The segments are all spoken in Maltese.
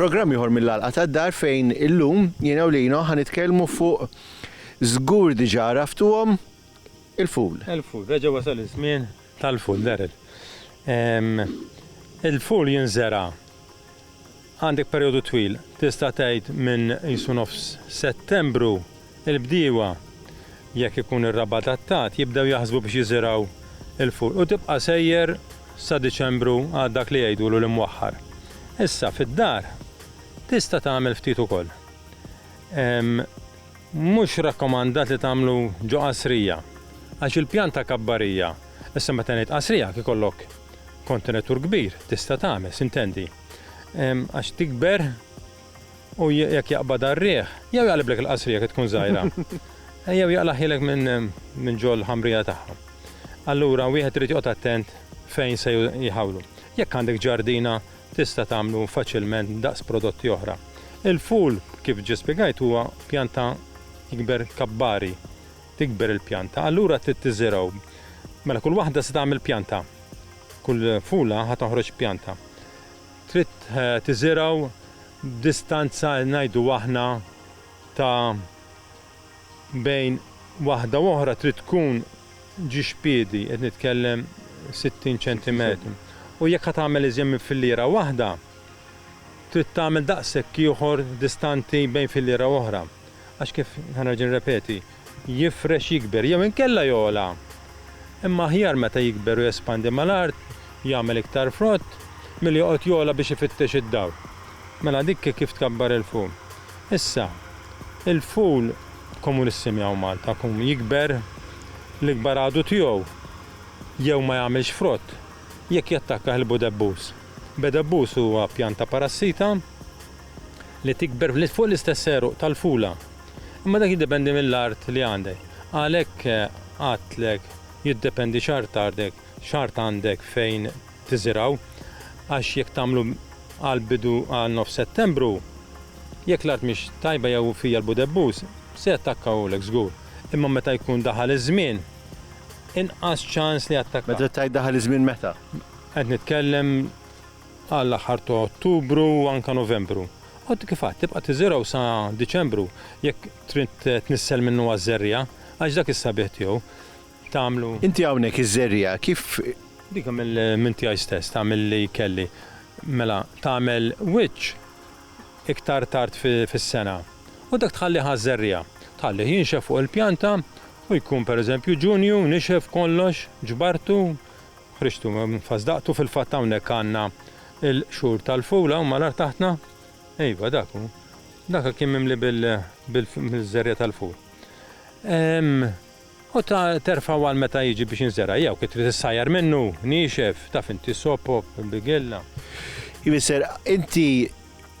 Programm ieħor mill-għalqa tad-dar fejn illum jiena u lino ħa nitkellmu fuq żgur diġà raftuhom il-ful. Il-ful, reġa' wasal iż-żmien tal-ful, Daryl. Il-ful jinżera' Għandek perjodu twil, tista' tgħid minn qisu nofs Settembru, il-bdiewa, jekk ikun ir-rab adattat, jibdew jaħsbu biex jiżirgħu l-fur u tibqa' sejjer sa Diċembru għal dak li jgħidulu l-imwaħħar. Issa, fid-dar, tista' tagħmel ftit ukoll. Mhux rakkomandat li tagħmlu ġo qasrija, għax il-pjanta kabbarija, issa meta ngħid qasrija, jekk ikollok kontenitur kbir, tista' tagħmel, sintendi. għax tikber u jekk jaqbad għar-riħ, jew jaqliblek il-qasrija kif tkun żgħira, jew jaqlaħilek minn ġol ħamrija tagħha. Allura wieħed irid joqgħod attent fejn se jħawlu. Jekk għandek ġardina tista' tagħmlu faċilment daqs prodotti oħra. Il-ful kif ġie spjegajt huwa pjanta ikber kabbari, tikber il-pjanta, allura trid tiżirgħu. Mela kull waħda se tagħmel pjanta. Kull fula ħa toħroġ pjanta. trid tiżirgħu b'distanza ngħidu aħna ta' bejn waħda u oħra trid tkun ġiex piedi, qed nitkellem 60 ċentimetru, u jekk ħa tagħmel iżjed minn filliera waħda, trid tagħmel daqshekk ieħor distanti bejn filliera u oħra, għax kif, ħa nerġa' nirrepeti, jifrex, jikber jew inkella jogħla, imma aħjar meta jikber u jespandi mal-art, jagħmel iktar frott, milli joqgħod jogħla biex ifittex id-dawl. Mela dik hi kif tkabbar il-ful. Issa, il-ful komunissim hawn Malta kum jikber l-ikbar għadu tiegħu jew ma jagħmilx frott jekk jattakkah il-budebbuż. Bedebbuż huwa pjanta parassita li tikber fuq l-istess għeruq tal-fula. Imma dak jiddependi mill-art li għandek. Għalhekk għadtlek jiddependi x'art ardek, x'art għandek fejn tiżirgħu. Għax jekk tagħmlu għal bidu għal nofs Settembru, jekk l-art mhix tajba jew fija l-budebbuż, se jattakkawlek żgur. Imma meta jkun daħal iż-żmien, inqas ċans li jattakka. Meta tgħid daħal iż-żmien meta? Qed nitkellem. għall-aħħar ta' Ottubru u anke Novembru. Għad kif għad tibqa' tiżirgħu sa Diċembru jekk trid tnissel minnu għaż-żerriegħa, għax dak is-sabiħ tiegħu tagħmlu. Inti hawnhekk iż-żerriegħa kif. Dik minn tiegħi stess, tagħmel li kelli. Mela, tagħmel wiċċ iktar tard fis-sena u dak tħallih għaż-żerriegħa. Tħallih jinxef fuq il-pjanta u jkun pereżempju Ġunju nixef kollox, ġbartu, Ħriġtu minn fażdaqtu, fil-fatt hawnhekk għandna l-qxur tal-fula u malar taħtna, iva dak hu, dak kien mimli bil-żerriegħa tal-ful. U terfgħu għal meta jiġi biex jinżera' jew kif trid issajjar minnu, niexef, taf inti sopop, bigella. Jfisser, inti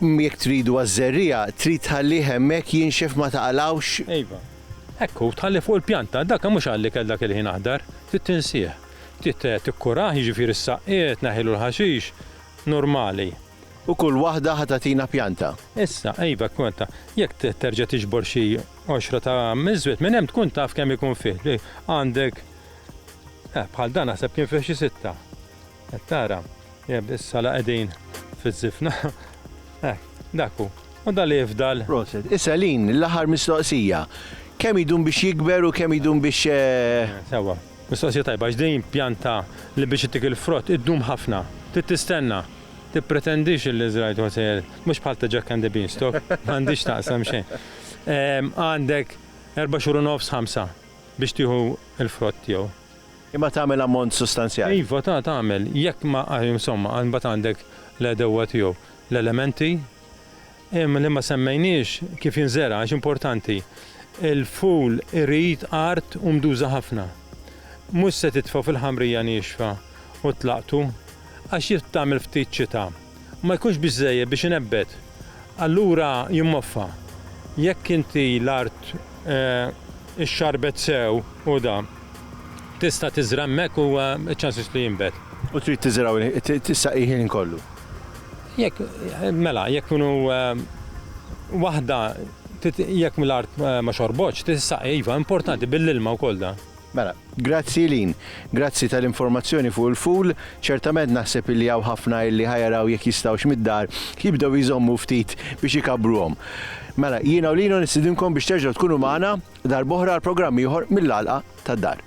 Jekk tridu għaż-żerriegħa, trid tħallih hemmhekk jinxef ma taqalgħux? Iva. Hekk hu, tħallih fuq il-pjanta, dak mhux għall-ikel dak il-ħin aħdar, trid tinsih. Trid tikkurah, jiġifieri s-saqqiet, tneħħilu l-ħaxix, normali. U kull waħda ħa tagħtina pjanta? Issa, iva, hekk hu, anta jekk terġa' tiġbor xi għoxra ta' miżwed minn hemm tkun taf kemm ikun fih. Għandek, eh, bħal dan naħseb kien fih xi sitta. Qed tara? Jeb, issa la qegħdin fiż-żifna. Hekk, dak hu. U dan li jifdal? Proset. Issa Lynn, l-aħħar mistoqsija. Kemm idum biex jikber u kemm idum biex. Sewwa. Mistoqsija tajba għax din pjanta li biex ittik il-frott iddum ħafna. Trid tistenna. Tippretendix illi żrajt u se. Mhux bħal ta' Jack and the Beanstalk. Ma għandhiex x'taqsam xejn. Għandek erba' xhur u nofs, ħamsa biex tieħu l-frott tiegħu. Imma tagħmel ammont sustanzjali. Iva ta' tagħmel jekk ma insomma għad mbagħad għandek l-għedewwa tiegħu l-elementi imma li ma semmejniex kif jinżera' għax importanti. Il-ful irid art u mduża ħafna. Mhux se titfgħu fil-ħamrija niexfa u tlaqtu għax jekk tagħmel ftit xita. ma jkunx biżżejjed biex inebbet. Allura jimmoffa. Jekk inti l-art ixxarbet sew u da, tista' tiżra' hemmhekk u ċ-ċansis li jinbet. U trid tiżra' u tissaqih il-ħin kollu? Jekk, mela, jekk hu waħda, jekk l-art ma xorbotx, tissaqi, iva, importanti, bil-ilma wkoll da. Mela, grazzi Eileen. Grazzi tal-informazzjoni fuq il-fool. Ċertament naħseb illi hawn ħafna illi ħa jaraw jekk jistgħux mid-dar jibdew jżommu ftit biex ikabbruhom. Mela, jiena u Lino nistidinkom biex terġgħu tkunu magħna darb'oħra għal programm ieħor mill-Għalqa tad-Dar.